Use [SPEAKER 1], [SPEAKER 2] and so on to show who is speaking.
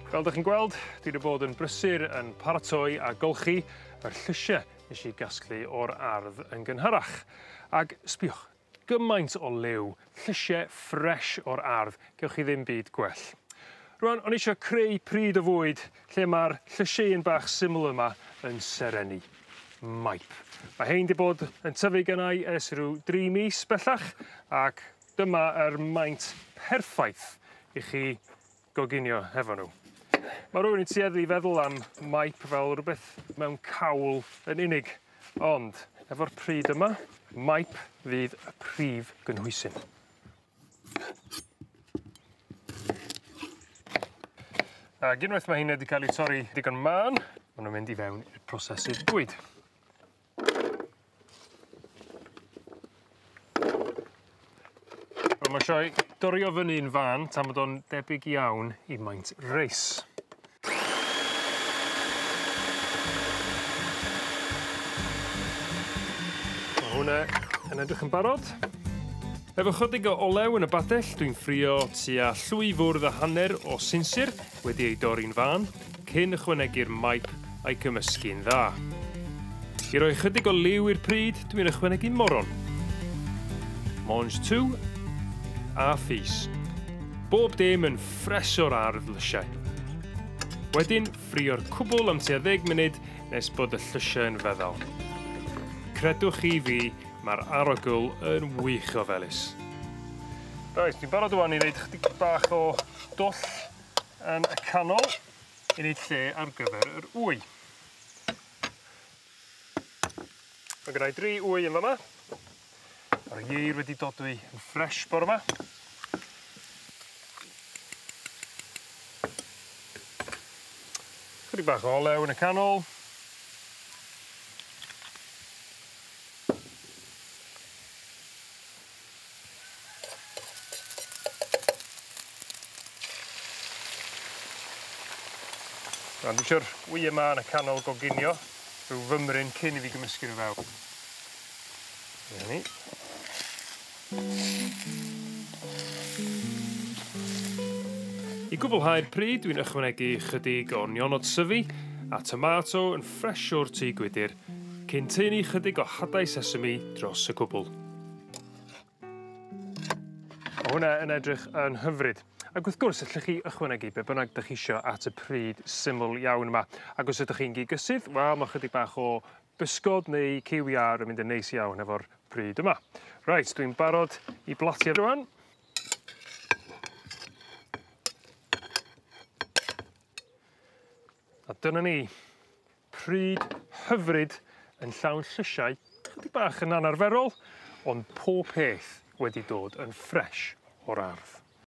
[SPEAKER 1] Fel 'dych chi'n gweld dwi 'di bod yn brysur yn paratoi a golchi yr llysie nesh i gasglu o'r ardd yn gynharach ag sbïwch gymaint o liw llysie ffres o'r ardd gewch chi ddim byd gwell. Rŵan o'n i isio creu pryd o fwyd lle ma'r llysieyn bach syml yma yn serennu. maip. Ma' rhein 'di bod yn tyfu gynnai ers ryw dri mis bellach ac dyma yr maint perffaith i chi goginio hefo n'w. Ma' rywun yn tueddu i feddwl am maip fel rwbeth mewn cawl yn unig ond efo'r pridd yma maip fydd y prif gynhwysyn. Ac unwaith mae hyn wedi cael ei torri digon mân, maen nhw'n mynd i fewn i'r prosesydd bwyd. Wel mae sioe dorio fyny'n fân tan bod o'n debyg iawn i maint reis. Ma' hwnne yn edrych yn barod. Efo chydig o olew yn y badell dwi'n ffrio tua llwy fwrdd a hanner o sinsir wedi ei dorri'n fân cyn ychwanegu'r maip a'i gymysgu'n dda. I roi chydig o liw i'r pryd dwi'n ychwanegu moron. Mange tout a fis. Bob dim yn ffres o'r ardd lysiau. Wedyn ffrio'r cwbl am tua ddeg munud nes bod y llysiau yn feddal. Credwch chi fi, mae'r arogl yn wych o felys. Reit, dwi'n barod ŵan i wneud chydig bach o dwll yn y canol i wneud lle ar gyfer yr wy. Ma' gynnai dri ŵy yn fa' 'ma. Ma'r ieir wedi dodwy yn ffres bore 'ma. Chydig bach o olew yn y canol. Rŵan dwi isio'r wye 'ma yn y canol goginio rhyw fymryn cyn i fi gymysgu n'w fewn. 'Na ni. I gwblhau'r pridd dwi'n ychwanegu chydig o nionod syfu a tomato yn ffresh o'r tŷ gwydyr Cyn tynnu chydig o hadau sesame dros y cwbl. Ma' hwnna yn edrych yn hyfryd. Ac wrth gwrs ellwch chi ychwanegu be' bynnag 'dych chi isio at y pryd syml iawn yma ac os ydych chi'n gigyssydd wel ma' chydig bach o bysgod neu cyw iâr yn mynd yn neis iawn efo'r pryd yma. Reit dwi'n barod i blasu rŵan. A dyna ni. Pryd hyfryd yn llawn llysiau chydig bach yn anarferol ond pob peth wedi dod yn ffresh o'r ardd.